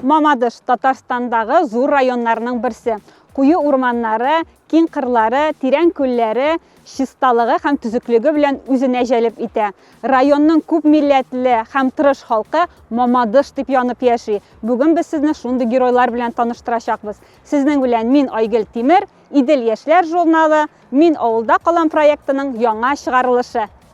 Мамадыш, Татарстандагы зур районнарның берсе. Куе урманнары, киң кырлары, тирән күлләре чисталыгы һәм төзеклеге белән үзенә җәлеп итә. Районның күп милләтле һәм тырыш халкы Мамадыш дип янып яши. Бүген без сезне шундый геройлар белән таныштырачакбыз. Сезнең белән мин Айгөл Тимер, Идел яшьләр журналы, Мин авылда калам проектының яңа чыгарылышы.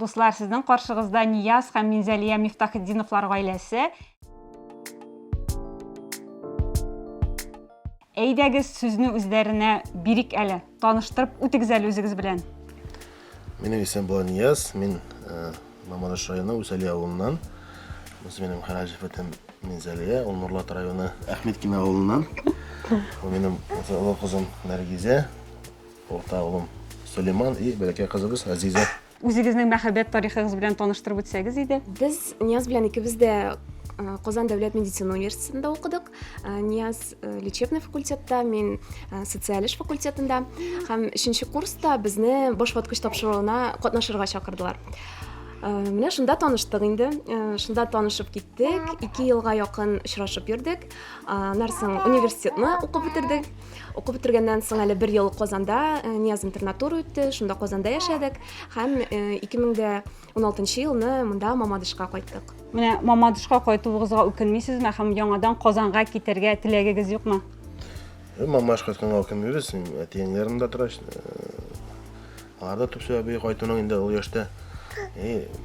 Дуслар, сезнең каршыгызда Нияз һәм Минзәлия Мифтахетдиновлар гаиләсе. Әйдәгез сүзне үзләренә бирик әле. Таныштырып үтегез әле үзегез белән. Минем исем Буланияз, мин э, Мамадыш районы Усәли авылыннан. Бусы минем Хараҗев этем Минзәлия, ул Нурлат районы Әхмедкина авылыннан. Бу минем олы кызым Нәргизә, урта улым Сулейман и бәләкәй кызыбыз Азиза. Үзегезнең мәхәббәт тарихыгыз белән таныштырып үтсәгез иде. Без Нияз белән икебез дә Казан дәүләт медицина университетында укыдык. Э, нияз э, лечебный факультетта мин э, социаль эш факультетында һәм өченче курста безне баш ваткыч тапшыруына катнашырга чакырдылар менә шунда таныштык инде шунда танышып киттек ике елга якын очрашып йөрдек аннан соң университетны укып бетердек укып бетергәннән соң әле бер ел казанда нияз интернатура үтте шунда казанда яшәдек һәм ике мең дә 16 елны монда Мамадышка кайттык. Менә Мамадышка кайтуыгызга үкенмисезме һәм яңадан Казанга китәргә теләгегез юкмы? Мамаш кайтканга үкенмибез, әтиеңнәрем дә тора. Аларда төп сәбәбе кайтуның инде ул яшьтә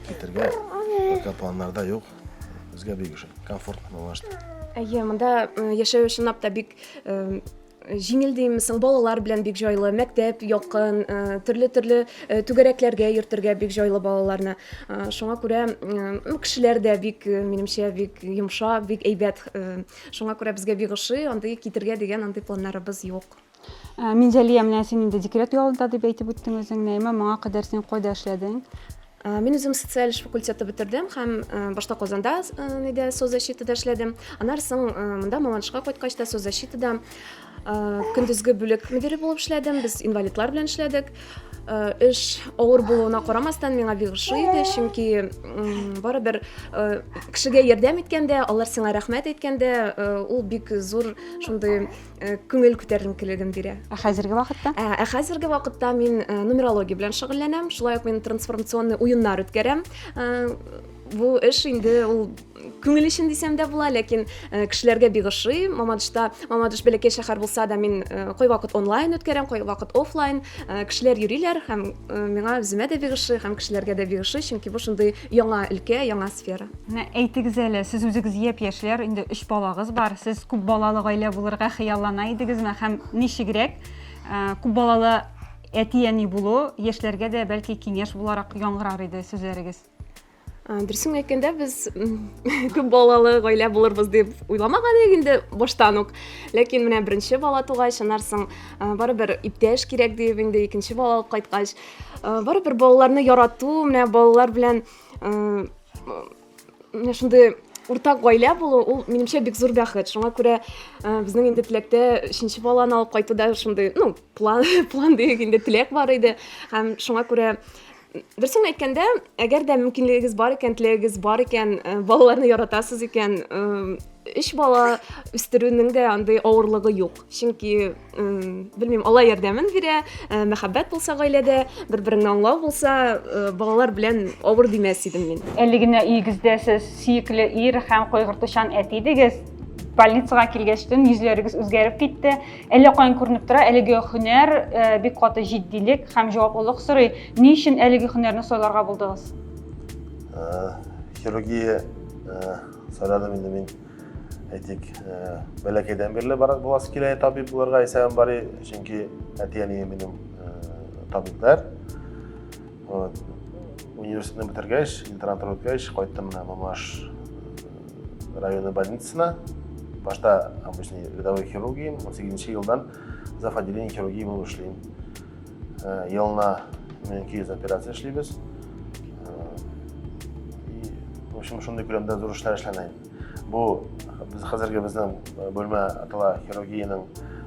китәргә пока планнарда юк. Безгә бик комфортно Мамашта. Әйе, монда яшәү чынлап та бик җиңел димме соң, балалар белән бик җайлы, мәктәп якын, төрле-төрле түгәрәкләргә йөртергә бик җайлы балаларны. Шуңа күрә ну, кешеләр дә бик, минемчә, бик йомшак, бик әйбәт. Шуңа күрә безгә бик ошый, андый китергә дигән андый планнарыбыз юк. Минзәлия, менә син инде декрет ялында дип әйтеп үттең үзең. Нәйма, моңа кадәр син кайда эшләдең? Мин үзем социаль эш факультеты бетердем һәм башта Казанда нидә соцзащитада эшләдем. Аннары соң монда Мамадышка кайткач та соцзащитада көндезге бүлек мөдире булып эшләдем. Без инвалидлар белән эшләдек. Эш авыр булуына карамастан миңа бик ошый иде, чөнки барыбер кешегә ярдәм иткәндә, алар сиңа рәхмәт әйткәндә, ул бик зур шундый Э, күңел күтәренкелеген бирә ә хәзерге вакытта ә, ә хәзерге вакытта мин э, нумерология белән шөгыльләнәм шулай ук мин трансформационный уеннар үткәрәм э, бу эш инде ул күңел өчен дисәм дә була ләкин э, кешеләргә бик ошый мамадышта мамадыш бәләкәй шәһәр булса да мин э, кайвакыт онлайн үткәрәм кайвакыт офлайн э, кешеләр йөриләр һәм миңа үземә дә бик ошый һәм кешеләргә дә бик ошый чөнки бу шундый Яңа өлкә, яңа сфера. Менә әйтегез әле, сез үзегез япь-яшьләр, инде өч балагыз бар. Сез күп балалы гаилә булырга хыяллана идегезме һәм ничегрәк э, күп балалы әти-әни булу яшьләргә дә бәлки киңәш буларак яңгырар иде сүзләрегез? Э, дөресен әйткәндә без күп балалы гаилә булырбыз дип уйламаган идек инде баштан ук ләкин менә беренче бала тугач аннан соң э, барыбер иптәш кирәк дип инде икенче бала алып кайткач Барыбер балаларны ярату, менә балалар белән менә шундый уртак гаилә булу ул минемчә бик зур бәхет шуңа күрә э, безнең инде теләктә өченче баланы алып кайтуда шундый ну план план дигән инде теләк бар иде һәм шуңа күрә дөресен әйткәндә әгәр дә мөмкинлегегез бар икән теләгегез бар икән э, балаларны яратасыз икән э, өч бала үстерүнең дә андый авырлыгы юк чөнки белмим алла ярдәмен бирә э, мәхәббәт булса гаиләдә бер береңне аңлау булса э, балалар белән авыр димәс идем мин әле генә өегездә сез сөекле ир һәм кайгыртучан әти идегез больницага килгәчтен йөзләрегез үзгәреп китте әллә каян күренеп тора әлеге һөнәр э, бик каты җитдилек һәм җаваплылык сорый ни өчен әлеге һөнәрне сайларга булдыгыз хирургия сайладым инде мин әйтик бәләкәйдән бирле барып буласы килә табиб булырга исән бари чөнки әти әнием минем табиблар вот университетны бетергәч интернатура үткәч кайттым менә мамаш районы больницасына башта обычный рядовой хирургиям он сегізінші жылдан зав отделение хирургии болып эшлим Э, елына миллион ике йөз операция эшлибез общем шундый күләмдә зур эшләр эшләнә инде бу без хәзерге безнең э, бүлмә атала хирургиянең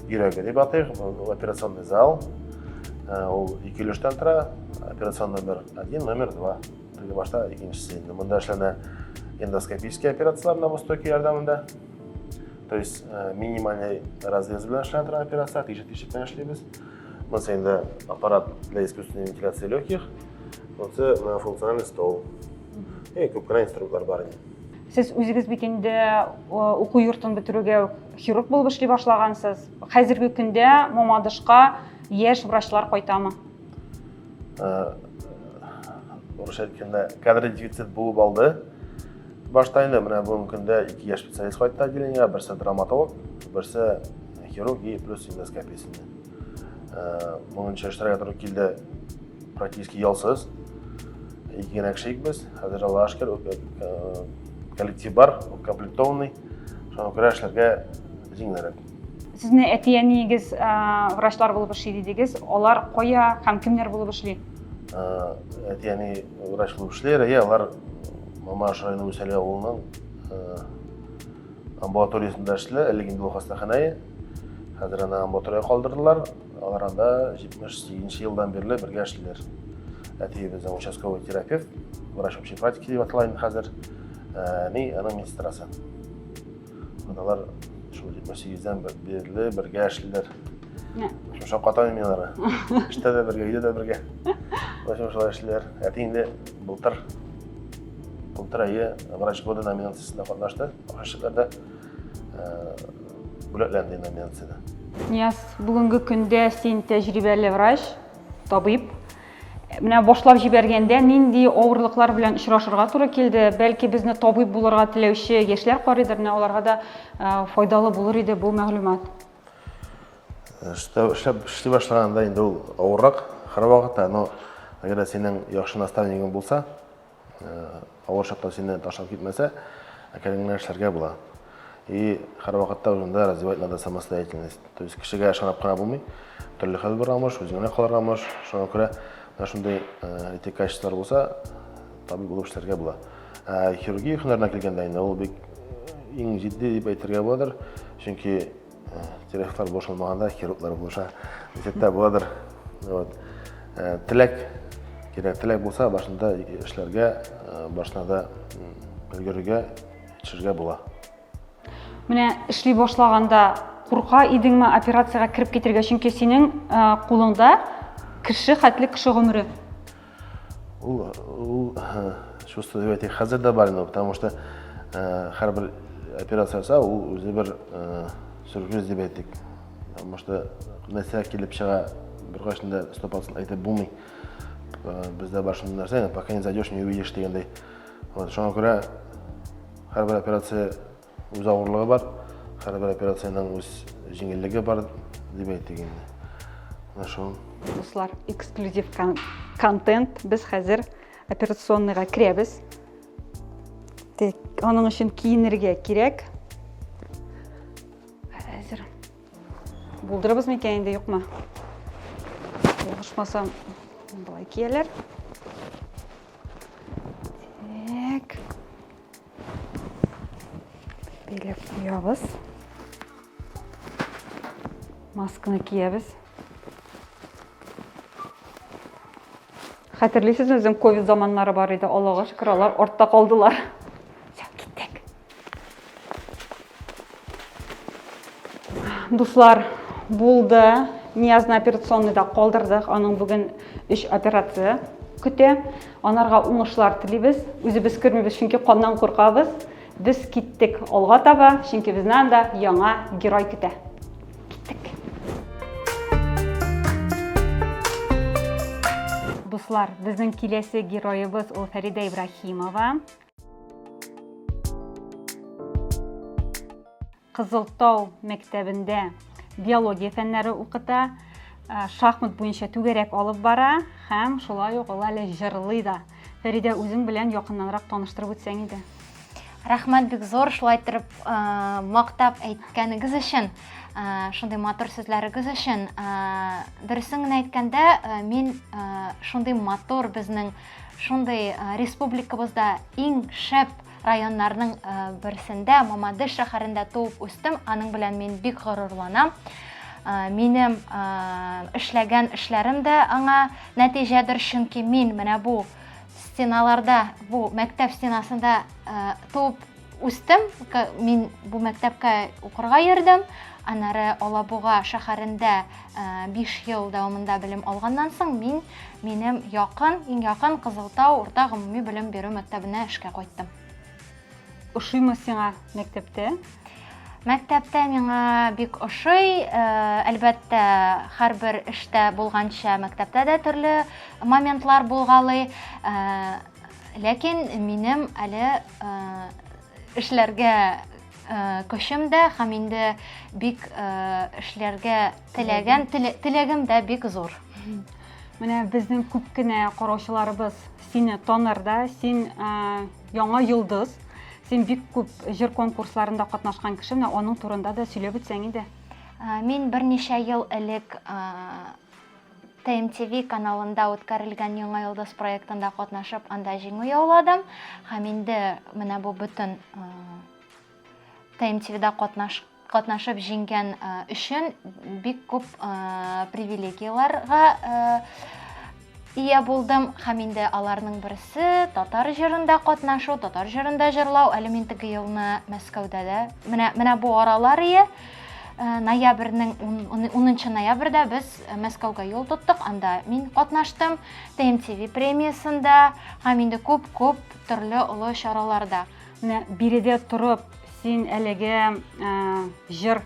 йөрәге дип атыйк бу операционный зал э, ул ике өлештән тора операцион номер один номер два теге башта икенчесе инде монда эшләнә эндоскопический операциялар на востоке ярдәмендә то есть э, минимальный разрез белән эшләнә торган операция тишек тишек белән эшлибез Монсы инде аппарат для искусственной вентиляции легких. Монсы функциональный стол. И күп кенә инструментлар бар инде. Сез үзегез бит инде уку йортын бетерүгә хирург булып эшли башлагансыз. Хәзерге көндә Мамадышка яшь врачлар кайтамы? Урысча әйткәндә, кадр дефицит булып алды. Башта инде менә бүгенге көндә ике яшь специалист кайтты отделениега, берсе драматолог, берсе хирург и плюс эндоскопиясендә. Э, Моңынча эшләргә туры килде практически ялсыз. Ике генә кеше без, хәзер Алла ашкер, э, коллектив бар, укомплектованный. Шуңа күрә эшләргә җиңелрәк. Сезне әти-әниегез э, врачлар булып эшли дидегез. Алар кая һәм кемнәр булып эшли? Әти-әни врач булып эшли, алар Мамаш районы Усәле авылының амбулаториясендә эшле, әле инде ул хастаханәе. Хәзер аны амбулатория калдырдылар. Алар анда 78 елдан бирле бергә эшлиләр. Әти безнең участковый терапевт, врач общей практики дип атала инде хәзер. Әни аның медсестрасы. Алар шул 78-дән бирле бергә эшлиләр. Шуша катан мин алары. Эштә дә бергә, өйдә дә бергә. Ләкин шулай эшлиләр. Әти инде былтыр былтыр әйе врач года номинациясендә катнашты. Ахырчыларда бүләкләнде номинацияда. Нияз, бүгенге көндә син тәҗрибәле врач, табиб. Менә башлап җибәргәндә нинди авырлыклар белән очрашырга туры килде? Бәлки безне табиб булырга теләүче яшьләр карыйдыр, менә аларга да файдалы булыр иде бу мәгълүмат. Эштә эшләп эшли башлаганда инде ул авыррак һәрвакытта, но әгәр дә синең яхшы наставнигың булса, Авыр чакта сине ташлап китмәсә, әкрен генә эшләргә була. И һәр вакытта үзеңдә развивать надо самостоятельность. То есть кешегә ышанып кына булмый. Төрле хәл барамыш, үзеңә калырга мыш. Шуңа күрә менә шундый эти качестволар булса, табиб булып эшләргә була. Ә хирургия һөнәренә килгәндә инде ул бик иң җитди дип әйтергә буладыр. Чөнки терехтар бошалмаганда хирурглар булыша дисәттә буладыр вот э, теләк кирәк теләк булса башында эшләргә э, башына да өлгерергә төшергә була менә эшли башлаганда курка идеңме операциягә кереп китергә чөнки синең э, кулыңда кеше хәтле кеше гомере Ул ул чувство дип әйтик, хәзер дә бар инде, потому что һәрбер операция ясау ул үзе бер сюрприз дип әйтик. Потому что нәрсә килеп чыга, беркайчанда стопасын әйтеп булмый. Бездә бар шундый нәрсә, пока не зайдешь, не увидишь дигәндәй. Вот, шуңа күрә һәрбер операция Үз авырлыгы бар, һәрбер операциянең үз җиңеллеге бар дип әйтик инде. Менә шул. Дуслар, эксклюзив контент. Без хәзер операционныйга керәбез. Тик аның өчен киенергә кирәк. Хәзер булдырыбыз микән инде юкмы? Булышмасам, былай кияләр. Бәйләп куябыз. Масканы киябез. Хәтерлисез үзем ковид заманнары бар иде, Аллага шөкер, алар артта калдылар. Дуслар, булды. Ниязны операционныйда калдырдык. Аның бүген өч операция көтә. Анарга уңышлар телибез. Үзебез кермибез, чөнки каннан куркабыз. Без киттек алга таба, чөнки безне анда яңа герой көтә. Киттек. Дуслар, безнең киләсе героебыз ул Фәридә Ибрахимова. Кызылтау мәктәбендә биология фәннәре укыта, э, шахмат буенча түгәрәк алып бара һәм шулай ук ул әле җырлый да. Фәридә, үзең белән якыннанрак таныштырып үтсәң иде. Рәхмәт бик зур шулай торып э, мактап әйткәнегез өчен, э, шундый матур сүзләрегез өчен. Дөресен генә әйткәндә, мин шундый матур безнең Шундый республикабызда иң шәп районнарның берсендә, Мамадыш шәһәрендә туып үстем. Аның белән мин бик горурланам. Минем эшләгән эшләрем дә аңа нәтиҗәдер, чөнки мин менә бу стеналарда, бу мәктәп стенасында туып Үстем, мин бу мәктәпкә укырга йөрдем. Анары Алабуга шәһәрендә 5 э, ел дәвамында белем алганнан соң мин минем якын, иң якын Кызылтау урта гомуми белем бирү мәктәбенә эшкә кайттым. Ошыймы сиңа мәктәптә? Мәктәптә миңа бик ошый. Э, әлбәттә, һәрбер эштә булганча мәктәптә дә төрле моментлар булгалый. Э, Ләкин минем әле эшләргә көчем дә һәм инде бик эшләргә теләгән теләгем дә бик зур. Менә безнең күп кенә караучыларыбыз сине таныр да, син яңа йолдыз, син бик күп җыр конкурсларында катнашкан кеше, менә аның турында да сөйләп үтсәң иде. Мин берничә ел элек TMTV каналында үткәрелгән Яңа йолдыз проектында катнашып, анда җиңү яуладым. Һәм инде менә бу бөтен TMTV-да катнаш катнашып җиңгән өчен бик күп привилегияләргә ия булдым һәм инде аларның берсе татар җырында катнашу татар җырында җырлау әле мин теге елны мәскәүдә дә менә менә бу аралар ие Э, ноябрьнең унынчы ноябрьдә без э, мәскәүгә юл тоттык анда мин катнаштым тмтв премиясендә һәм инде күп күп төрле олы чараларда менә биредә торып син әлеге э, җыр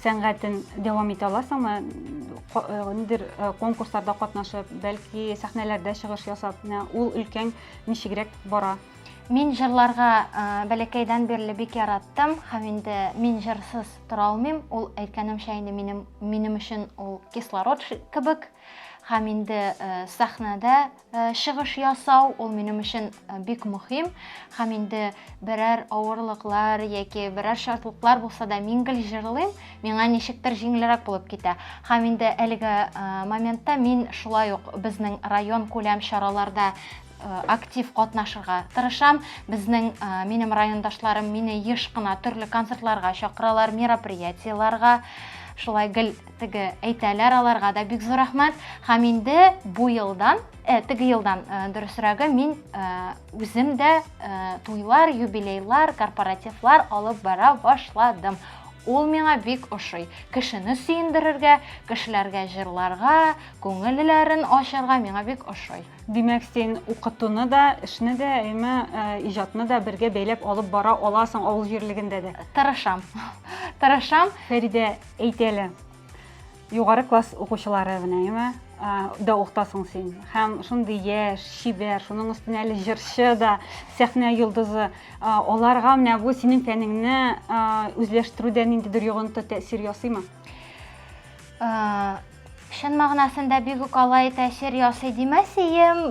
сәнгатен дәвам итә аласыңмы нидер конкурсларда катнашып бәлки сәхнәләрдә чыгыш ясап менә ул өлкәң ничегрәк бара Мин җырларга бәләкәйдән бирле бик яраттым һәм инде мин җырсыз тора алмыйм. Ул әйткәнемчә инде минем минем өчен ул кислород кебек һәм инде сәхнәдә чыгыш ясау ул минем өчен бик мөһим һәм инде берәр авырлыклар яки берәр шартлыклар булса да мин гел җырлыйм, миңа ничектер җиңелрәк булып китә. Һәм инде әлеге моментта мин шулай ук безнең район күләм чараларда Э, актив катнашырга тырышам безнең э, минем райондашларым мине еш кына төрле концертларга чакыралар мероприятиеларга шулай гел теге әйтәләр аларга да бик зур рәхмәт һәм инде бу елдан э, теге елдан э, дөресрәге мин э, үзем дә э, туйлар юбилейлар корпоративлар алып бара башладым ул миңа бик ошый кешене сөендерергә кешеләргә җырларга күңелләрен ачарга миңа бик ошый Димәк, син укытуны да, эшне дә, әйме, э, иҗатны да бергә бәйләп алып бара аласың авыл җирлегендә дә. Тырышам. Тырышам. Фәридә, әйт әле. Югары класс укучылары менә, әйме, э, да укытасың син. Һәм шундый яшь, чибәр, шуның өстенә әле җырчы да, сәхнә йолдызы. Э, Аларга менә бу синең фәнеңне э, үзләштерүдә ниндидер йогынты тәэсир ясыймы? Э, Чын мәгънәсендә бик үк алай тәэсир ясый димәсием.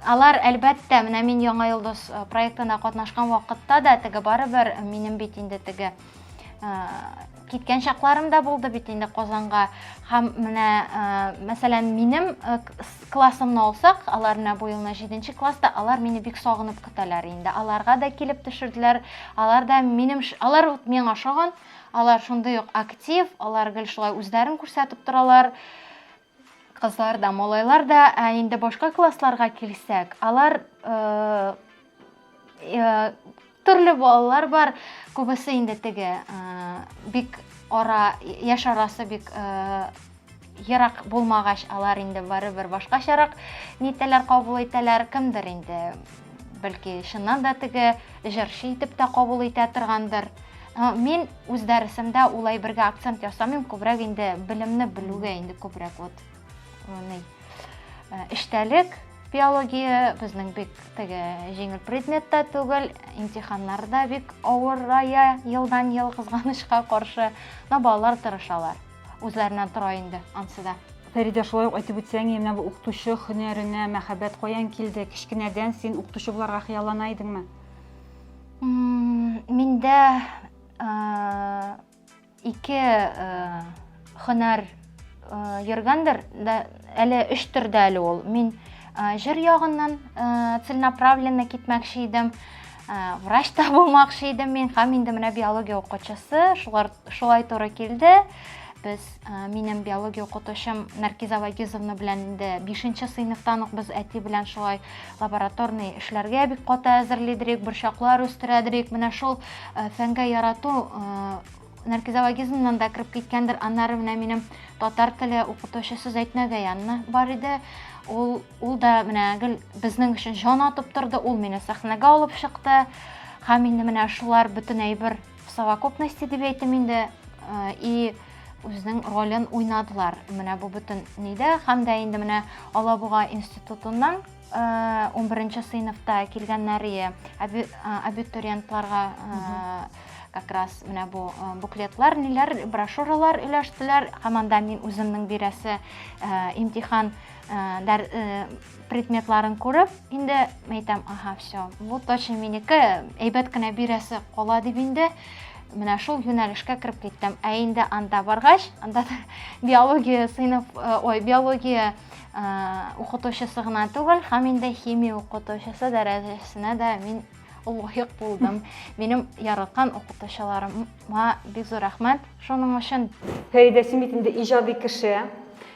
Алар, әлбәттә, менә мин Яңа йолдыз э, проектына катнашкан вакытта да теге барыбер минем бит инде теге э, киткән чакларым да булды бит инде Казанга. Һәм менә, э, мәсәлән, минем классымны алсак, алар менә бу елны 7 класста, алар мине бик сагынып көтәләр инде. Аларга да килеп төшерделәр. Алар да минем алар миңа ошаган. Алар шундый ук актив, алар гел шулай үзләрен күрсәтеп торалар. Кызлар да, малайлар да, ә инде башка классларга килсәк, алар э, э, төрле балалар бар, күбесе инде теге э, бик ара, яшь арасы бик э, Ерак булмагач, алар инде барыбер башкачарак нитәләр, кабул итәләр. Кемдер инде, бәлки, чыннан да теге җырчы итеп тә кабул итә торгандыр. Ә, Мин үз дәресемдә ул әйбергә акцент ясамыйм, күбрәк инде белемне белүгә инде күбрәк вот э, ни, э, эчтәлек, биология безнең бик теге җиңел предмет та түгел, имтиханнар да бик авырая елдан-ел кызганычка каршы, но балалар тырышалар. Үзләреннән тора инде ансы да. Фәридә, шулай ук әйтеп үтсәң, менә бу укытучы һөнәренә мәхәббәт каян килде? Кечкенәдән син укытучы буларга хыяллана идеңме? Миндә ике һөнәр йөргәндер, Әле өч төрдә әле ул. Мин җыр ягыннан целенаправленно китмәкче идем. Врач та булмакчы идем мин һәм инде менә биология укытучысы шулар шулай туры килде. Без минем биология укытучым Наркиза Вагизовна белән инде 5нче сыйныфтан ук без әти белән шулай лабораторный эшләргә бик каты әзерлидек, борчаклар үстерәдек. Менә шул фәнгә ярату наркизологизмнан да кереп киткәндер аннары менә минем татар теле укытучысы зәйтнә гаянна бар иде ул ул да менә гел безнең өчен җан атып торды ул мине сәхнәгә алып чыкты һәм инде менә шулар бөтен әйбер в совокупности дип әйтим инде э, и үзенең ролен уйнадылар менә бу бөтен нидә һәм дә инде менә алабуга институтыннан 11 сыйныфта килгәннәрие абитуриентларга как раз менә бу буклетлар, ниләр, брошюралар өләштеләр. Һәм анда мин үземнең бирәсе имтихан предметларын күреп, инде әйтәм, аһа, все, бу точно минеке, әйбәт кенә бирәсе кала дип инде менә шул юнәлешкә кереп киттем. Ә инде анда баргач, анда биология сыйныф, ой, биология укытучысы гына түгел һәм инде химия укытучысы дәрәҗәсенә дә мин лаек булдым минем яраткан укытучыларыма бик зур рәхмәт шуның өчен фәридә син бит инде иҗади кеше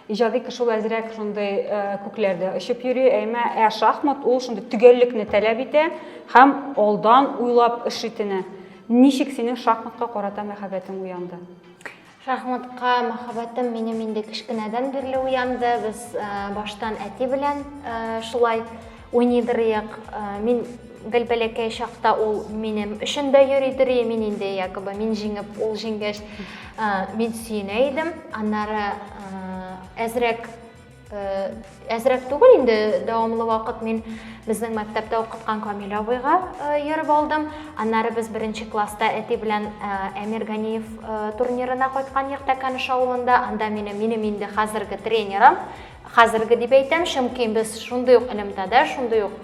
иҗади кеше ул әзрәк шундый э, күкләрдә очып йөри әмма ә шахмат ул шундый төгәллекне таләп итә һәм алдан уйлап эш итүне ничек синең шахматка карата мәхәббәтең уянды Шахматка мәхәббәтем минем инде кечкенәдән бирле уянды. Без э, баштан әти белән э, шулай уйный дырыйк. Э, мин гел бәләкәй чакта ул минем өчен дә йөри дыри, мин инде якобы мин җиңеп, ул җиңгәч, мин сөенә идем. Аннары әзрәк Э, әзрәк түгел инде дәвамлы вакыт мин безнең мәктәптә укыткан камил абыйга э, йөреп алдым аннары без беренче класста әти белән э, әмир ганиев турнирына кайткан идек тәкәнеш авылында анда мине минем инде хәзерге тренерым хәзерге дип әйтәм чөнки без шундый ук элемтәдә шундый ук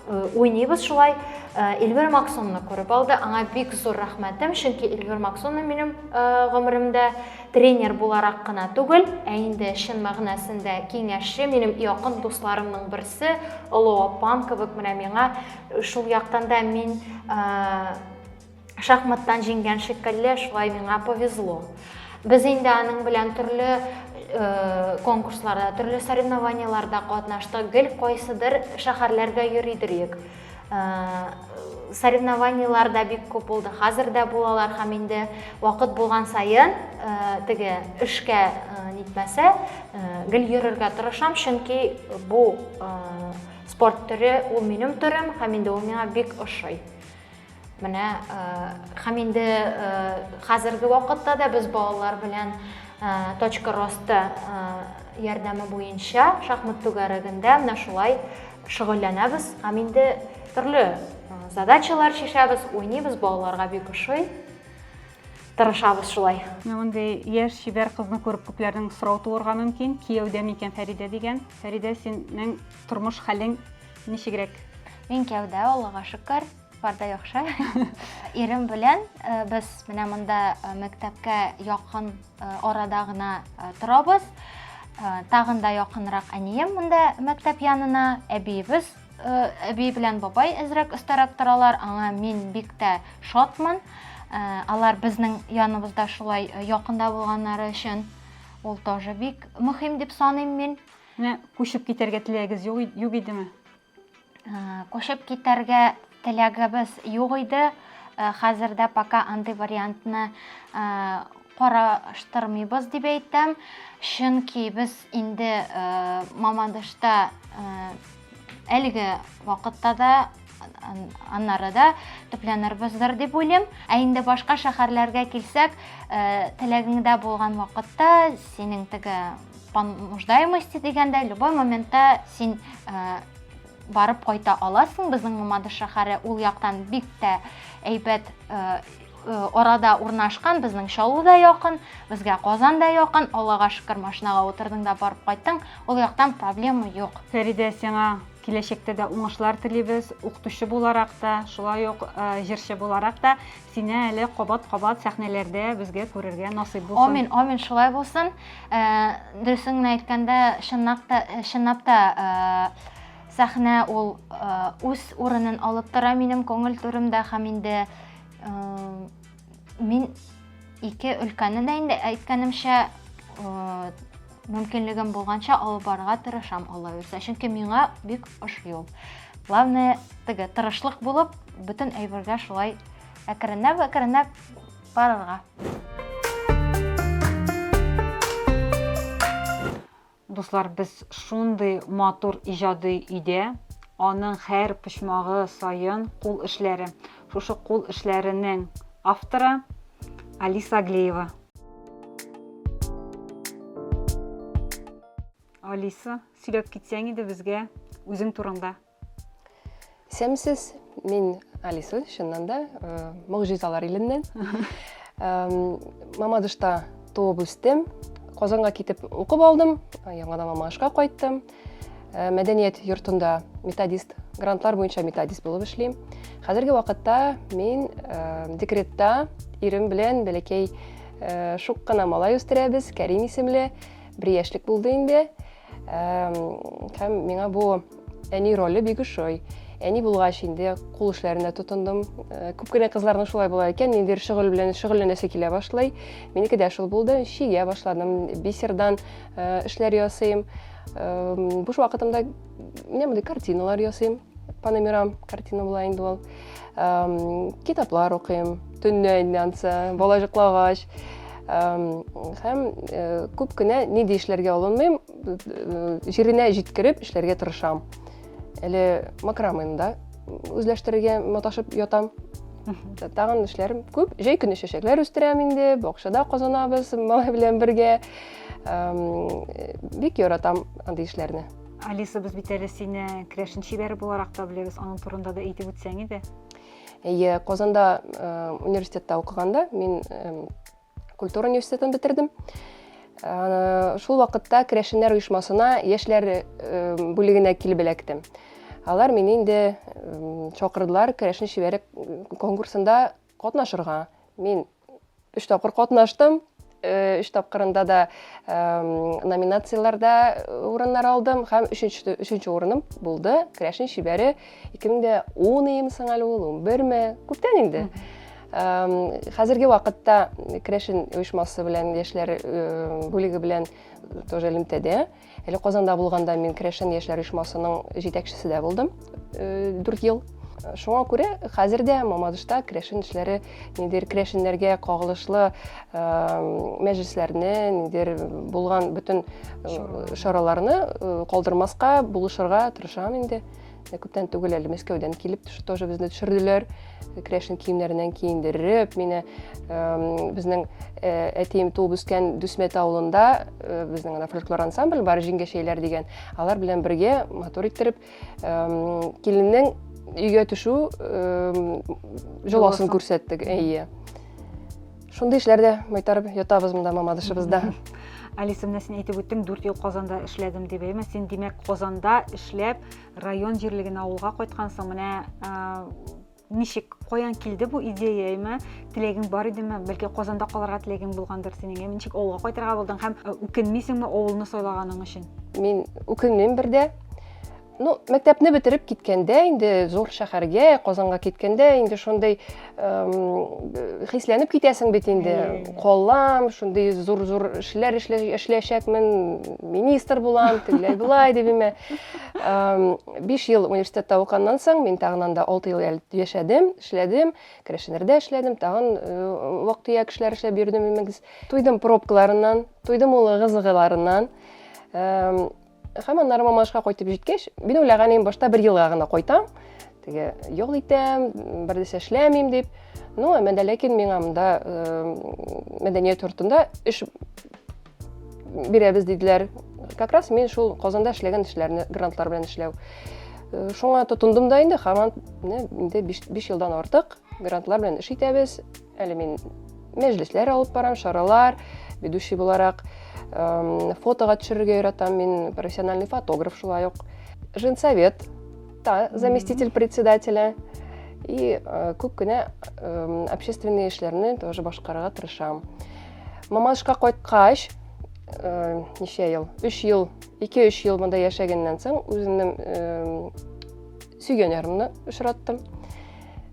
уйныйбыз шулай. Эльвир Максонны күреп алды. Аңа бик зур рәхмәтем, чөнки Эльвир Максонны минем гомеремдә тренер буларак кына түгел, ә инде чын мәгънәсендә киңәшче, минем якын дусларымның берсе, олы апам кебек менә миңа шул яктан да мин Шахматтан җиңгән шикелле, шулай миңа повезло. Без инде аның белән төрле э, конкурсларда, төрле соревнованияларда катнаштык. Гел кайсыдыр шәһәрләргә йөри идек. Э, соревнованиялар да бик күп булды. Хәзер дә булалар һәм инде вакыт булган саен э, теге эшкә э, нитмәсә, э, гел йөрергә тырышам, чөнки бу э, спорт төре ул минем төрем һәм инде ул миңа бик ошый. Менә һәм инде хәзерге вакытта да без балалар белән точка роста ярдәме буенча шахмат түгәрәгендә менә шулай шөгыльләнәбез һәм инде төрле задачалар чишәбез, уйныйбыз, балаларга бик ошый. Тырышабыз шулай. Мондый яшь чибәр кызны күреп күпләрнең сорау туырга мөмкин, кияүдә микән Фәридә дигән. Фәридә, синең тормыш хәлең ничегрәк? Мин кияүдә, Аллага шөкер. Парда яхшы. Ирем белән э, без менә монда э, мәктәпкә якын э, арада гына торабыз. Тагын да якынрак әнием монда мәктәп янына, әбиебез әби белән бабай әзрәк өстәрәк торалар. Аңа мин бик тә шатмын. Алар безнең яныбызда шулай якында булганнары өчен ул тоже бик мөһим дип саныйм мин. Менә күчеп китәргә теләгез юк идеме? Кочып китәргә теләгебез юк иде. Хәзер дә пока андый вариантны караштырмыйбыз дип әйтәм. Чөнки без инде Мамадышта әлеге вакытта да аннары да төпләнербездер дип уйлыйм. Ә инде башка шәһәрләргә килсәк, теләгеңдә булган вакытта синең теге по нуждаемости дигәндә любой моментта син э, барып кайта аласың безнең мамадыш шәһәре ул яктан бик тә әйбәт э, э, арада урнашкан безнең чаллы да якын безгә казан да якын аллага шөкер машинага утырдың да барып кайттың ул яктан проблема юк фәридә сиңа киләчәктә дә уңышлар телибез укытучы буларак та шулай ук э, җырчы буларак та Сине әле кабат-кабат сәхнәләрдә безгә күрергә насыйп булсын. Амин, амин, шулай булсын. Э, Дөресен генә әйткәндә, чынлап та, э, чынлап та э, сәхнә ул үз урынын алып тора минем күңел түремдә һәм инде мин ике өлкәне дә инде әйткәнемчә мөмкинлегем булганча алып барырга тырышам аллаверса чөнки миңа бик ошый ул главное теге тырышлык булып бөтен әйбергә шулай әкренләп әкренләп барырга дуслар без шундый матур иҗади өйдә аның һәр почмагы саен кул эшләре шушы кул эшләренең авторы алиса глеева Алиса, сөйләп китсәң иде безгә үзең турында. Исәнмесез, мин Алиса, чыннан да, э, могҗизалар иленнән. Мамадышта туып үстем, Казанга китеп укып алдым, яңадан Мамадышка кайттым. Э, мәдәният йортында методист грантлар буенча методист булып эшлим хәзерге вакытта мин э, декретта ирем белән бәләкәй э, шук кына малай үстерәбез кәрим исемле бер яшьлек булды инде һәм миңа бу әни роле бик ошый әни булгач инде кул эшләренә тотындым күп кенә кызларның шулай була икән ниндидер шөгыль белән шөгыльләнәсе килә башлый минеке дә шул булды чигә башладым бисердан э, эшләр ясыйм э, буш вакытымда менә мондый картиналар ясыйм паномерам картина була инде ул э, китаплар укыйм төнлә инде ансы бала жоклагач һәм э, күп кенә ни дә эшләргә алынмыйм э, җиренә җиткереп эшләргә тырышам әле макрамыйм да үзләштерергә маташып ятам тагын эшләрем күп җәй көне чәчәкләр үстерәм инде бакчада казанабыз малай белән бергә бик яратам андый эшләрне алиса без бит әле сине крәшен чибәре буларак та беләбез аның турында да әйтеп үтсәң иде иә казанда университетта укыганда мин культура университетын бетердем шул вакытта крәшеннәр оешмасына яшьләр бүлегенә килеп эләктем алар мине инде чакырдылар крәшен чибәре конкурсында катнашырга мин өч тапкыр катнаштым өч э, тапкырында да номинацияләрдә э, урыннар алдым һәм өченче өченче урыным булды керәшен шибәре 2010 ем соң әле ул он берме күптән инде хәзерге вакытта керәшен оешмасы белән яшьләр э, бүлеге белән тоже элемтәдә Әле Казанда булганда мин Керәшен яшьләр оешмасының җитәкчесе дә булдым 4 ел. Шуңа күрә хәзер дә Мамадышта керәшен эшләре ниндидер керәшеннәргә кагылышлы мәҗлесләрне, ниндидер булган бөтен чараларны калдырмаска, булышырга тырышам инде. Ә күптән түгел әле Мәскәүдән килеп тоже безне төшерделәр. Крәшин киемнәреннән киендереп, мине безнең э, әтием туып үскән Дүсмәт авылында э, безнең ана фольклор ансамбль бар, җиңгәшәйләр дигән. Алар белән бергә матур иттереп киленнең өйгә төшү җоласын күрсәттек. Әйе. Шундый эшләрдә майтарып ятабыз монда мамадышыбызда. Алиса, менә син әйтеп үттең, 4 ел Казанда эшләдем дип, әйме? Син димәк Казанда эшләп, район җирлегенә авылга кайткансың. Менә ничек, каян килде бу идея, әйме? Теләгең бар идеме? Бәлки Казанда калырга теләгең булгандыр синең, әйме? Ничек авылга кайтырга булдың һәм үкенмисеңме авылны сайлаганың өчен? Мин үкенмим бердә. Ну, мәктәпне бетереп киткәндә, инде зур шәһәргә, Казанга киткәндә, инде шундый хисләнеп китәсең бит инде. Коллам, шундый зур-зур эшләр эшләячәкмен, министр булам, тегеләй булай дип имә. 5 ел университетта уканнан соң, мин тагын анда 6 ел яшәдем, эшләдем, Крәшенердә эшләдем, тагын вак-төяк эшләр эшләп йөрдем, имегез. Туйдым пробкаларыннан, туйдым улы кызыгыларыннан. Һәм аннары Мамашка кайтып җиткәч, мин уйлаган идем, башта бер елга гына кайтам, теге ял итәм, бер нәрсә эшләмим дип. Ну, әмма дә ләкин миңа монда мәдәният йортында эш бирәбез диделәр. Как раз мин шул Казанда эшләгән эшләрне грантлар белән эшләү. Э, шуңа тотындым да инде, хаман инде 5 елдан артык грантлар белән эш итәбез. Әле мин мәҗлесләр алып барам, чаралар, ведущий буларак. Эм, Фотога төшерергә яратам, мин профессиональный фотограф шулай ук. Женсовет, та заместитель председателя. И э, күп кенә эм, общественный эшләрне тоже башкарырга тырышам. Мамашка кайткач, э, ничә ел? 3 ел, 2-3 ел монда яшәгәннән соң үземнең эм, сөйгән ярымны очраттым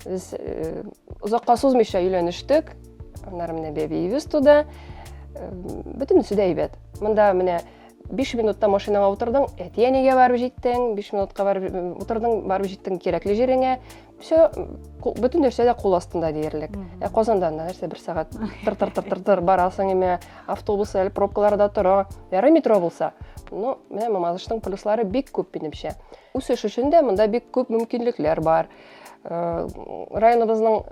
без э, озакка сузмыйча өйләнештек аннары менә бәбиебез туды э, бөтенесе дә әйбәт монда менә биш минутта машинаңа утырдың әти әнигә барып җиттең биш минутка барып э, утырдың барып җиттең кирәкле җиреңә все бөтен нәрсә дә кул астында диярлек ә казанда нәрсә бер сәгать тыр тыр тыр тыр тыр барасың име автобус әле пробкаларда тора ярый метро булса ну менә мамадышның плюслары бик күп минемчә Үсеш өчен дә монда бик күп мөмкинлекләр бар. Районыбызның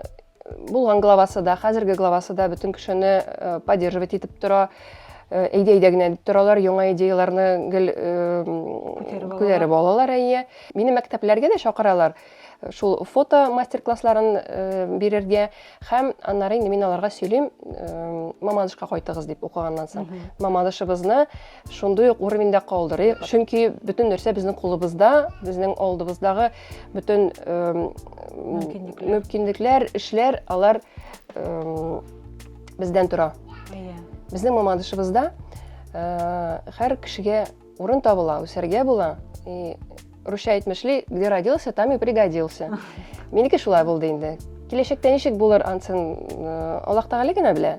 булган главасы да, хәзерге главасы да бөтен кешене поддерживать итеп тора. Әйдә-әйдә генә дип торалар, яңа идеяләрне гел күтәреп алалар, әйе. Мине мәктәпләргә дә чакыралар, шул фото мастер-классларын бирергә һәм аннары инде мин аларга сөйлим, Мамадышка кайтыгыз дип укыганнан соң. Мамадышыбызны шундый ук уровеньда калдырыйк чөнки бөтен нәрсә безнең кулыбызда безнең алдыбыздагы бөтен мөмкинлекләр эшләр алар бездән тора безнең мамадышыбызда һәр кешегә урын табыла үсәргә була и русча әйтмешли где родился там и пригодился минеке шулай булды инде киләчәктә ничек булыр ансын аллаһ тәгалә генә белә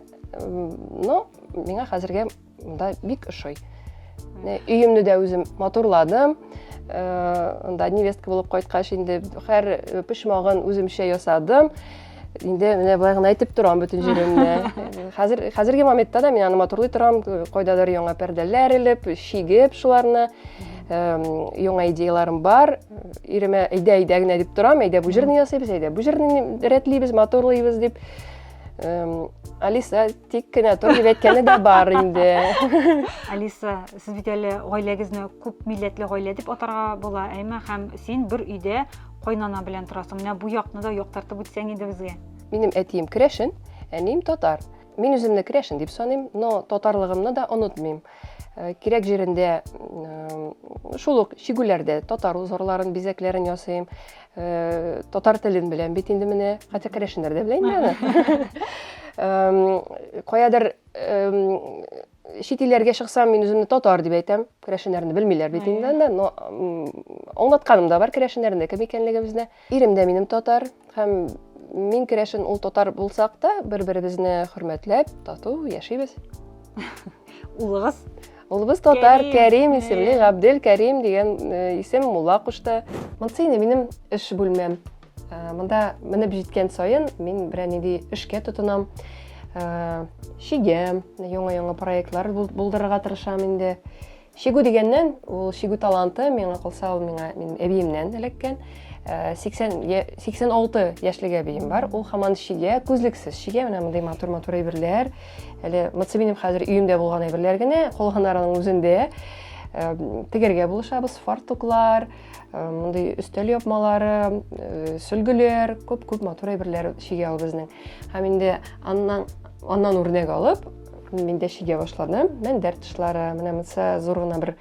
но миңа хәзергә Монда бик ошый. Өемне дә үзем матурладым. Анда невестка булып кайткач инде һәр почмагын үземчә ясадым. Инде менә болай гына әйтеп торам бөтен җиремне. Хәзер хәзерге моментта да мин аны матурлый торам, кайдадыр яңа пәрдәләр элеп, чигеп шуларны. Яңа идеяларым бар. Иремә әйдә әйдә генә дип торам, әйдә бу җирне ясыйбыз, әйдә бу җирне рәтлибез, матурлыйбыз дип. Алиса Тик кенә тор дип әйткәне дә бар инде. Алиса, сез бит әле гаиләгезне күп милләтле гаилә дип атарга була, әйме, һәм син бер өйдә кайнана белән торасың. Менә бу якны да яктартып үтсәң иде безгә. Минем әтием керәшен, әнием татар. Мин үземне керәшен дип саныйм, но татарлыгымны да онытмыйм. Э, кирәк җирендә э, шул ук чигүләрдә татар узорларын бизәкләрен ясыйм э, татар телен беләм бит инде менә хәтта керәшеннәр дә белә инде аны эм, каядыр эм, чит илләргә чыксам мин үземне татар дип әйтәм керәшеннәрне белмиләр бит инде анда но аңлатканым да бар керәшеннәрнең кем икәнлегебезне Ирем дә минем татар һәм мин керәшен, ул татар булсак та, бер-беребезне хөрмәтләп, тату яшибез. Улыгыз? Улыбыз татар, Кәрим исемле, Габдел Кәрим дигән э, исем мулла кушты. Монсы инде минем эш бүлмәм. Э, монда менеп җиткән саен мин берәр нинди эшкә тотынам. Э, Шигәм, яңа-яңа проектлар булдырырга тырышам инде. Чигү дигәннән, ул чигү таланты, миңа калса, ул миңа минем әбиемнән эләккән. 86 э, яшьлек әбием бар ул хаман чигә күзлексез чигә менә мондый матур матур әйберләр әле мыцы минем хәзер өемдә булган әйберләр генә кулганарының үзендә э, тегергә булышабыз фартуклар э, мондый өстәл япмалары сөлгеләр күп күп матур әйберләр чигә ул безнең һәм инде аннан аннан үрнәк алып Миндә шигә башладым. Мәндәр тышлары, менә монсы зур гына бер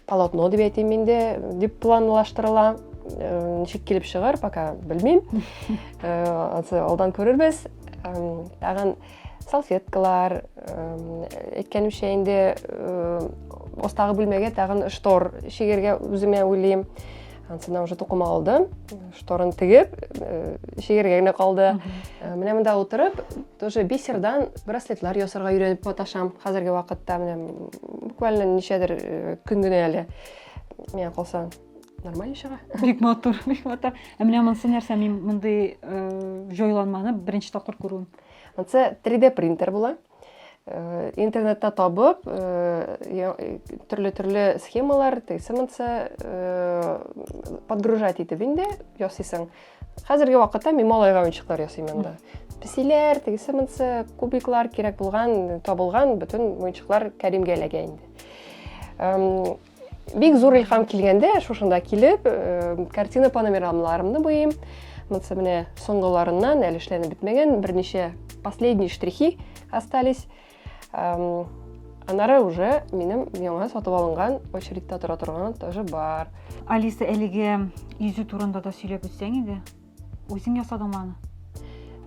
полотно дип әйтим миндә, дип планлаштырыла. Э, ничек килеп чыгар, пока белмим. Э, алдан күрербез. Тагын салфеткалар, әйткәнемчә инде остагы э, бүлмәгә тагын штор шигергә үземә уйлыйм. Ансына уже тукыма алдым, шторын тегеп, э, шигергә генә калды. Э, менә монда утырып, тоже бисердан браслетлар ясарга өйрәнеп маташам. Хәзерге вакытта менә буквально ничәдер э, көн генә әле. Миңа калса нормально чыга. Бик матур, бик матур. Ә менә монсы нәрсә мин мондый җайланманы беренче тапкыр күрүем. Монсы 3D принтер була. Э, интернетта табып э, э, түрлі түрлі схемалар тыйсымынса подгружать итеп инде ясыйсың хәзерге вакытта мин малайга уенчыклар ясыйм анда песиләр тыйсымынса кубиклар кирәк булган табылган бөтен уенчыклар кәримгә эләгә инде Бик зур илхам килгәндә, шушында килеп, э, картина панорамаларымны буйым. Монсы менә соңгыларыннан әле эшләнеп бетмәгән, берничә последние штрихи остались. Анары уже минем яңа сатып алынган очередьта тора торган тоже бар. Алиса, әлеге йөзү турында да сөйләп үтсәң иде. Үзең ясадыңмы аны?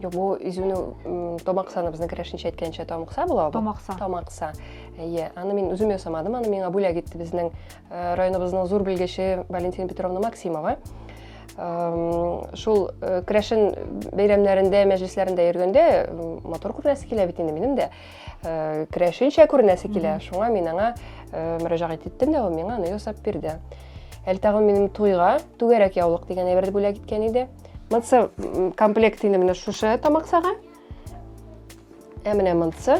Юк, бу изүнең томаксаны безнең керәшенчә әйткәнчә томакса була бу. Томакса. Томакса. Әйе, аны мин үзем ясамадым, аны миңа бүләк итте безнең э, районыбызның зур белгече Валентина Петровна Максимова. Шул э, керәшен бәйрәмнәрендә, мәҗлесләрендә йөргәндә матур күренәсе килә бит инде минем дә. Э, керәшенчә күренәсе килә шуңа мин аңа э, мөрәҗәгать иттем дә ул миңа аны ясап бирде әле тагын минем туйга түгәрәк яулык дигән әйберде бүләк иткән иде мынсы комплект инде менә шушы тамаксага ә менә мынсы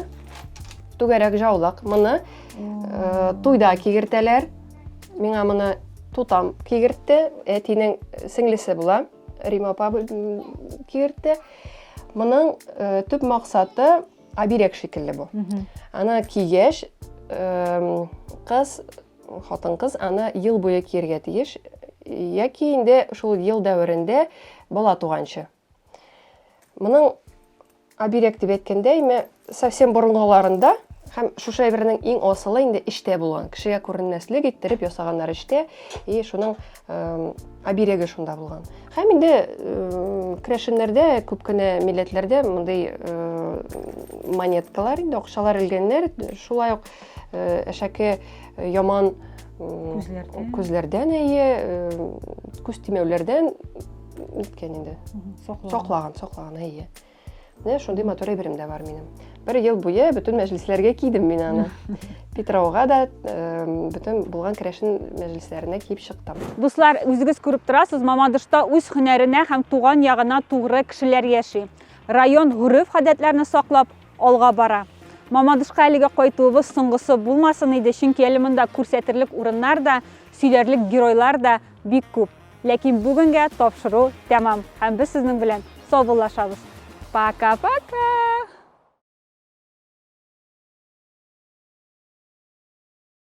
түгәрәк җаулык моны э, туйда кигертәләр миңа моны тутам кигертте әтинең сеңлесе була рима апа кигертте моның төп максаты Оберег шикелле бу. Аны кигәч, кыз, хатын кыз аны ел буе киергә тиеш, яки инде шул ел дәверендә бала туганчы. Моның оберег дип әйткәндә, име совсем борынгыларында һәм шушы әйбернең иң асылы инде эчтә булган. Кешегә күренмәслек иттереп ясаганнар эчтә, и шуның обереге шунда булган һәм инде крәшеннәрдә күп кенә милләтләрдә мондый монеткалар инде акчалар элгәннәр шулай ук әшәке яман күзләрдән күзләрдән әйе күз тимәүләрдән ниткән инде саклаган саклаган әйе Менә шундый матур әйберем дә бар минем. Бер ел буе бөтен мәҗлесләргә кидем мин аны. Питрауга да бөтен булган керәшен мәҗлесләренә киеп чыктым. Дуслар, үзегез күреп торасыз, Мамадышта үз һөнәренә һәм туган ягына тугры кешеләр яши. Район гореф-гадәтләрне саклап алга бара. Мамадышка әлегә кайтуыбыз соңгысы булмасын иде, чөнки әле монда күрсәтерлек урыннар да, сөйләрлек геройлар да бик күп. Ләкин бүгенгә тапшыру тәмам һәм без сезнең белән саубуллашабыз. Пока-пока!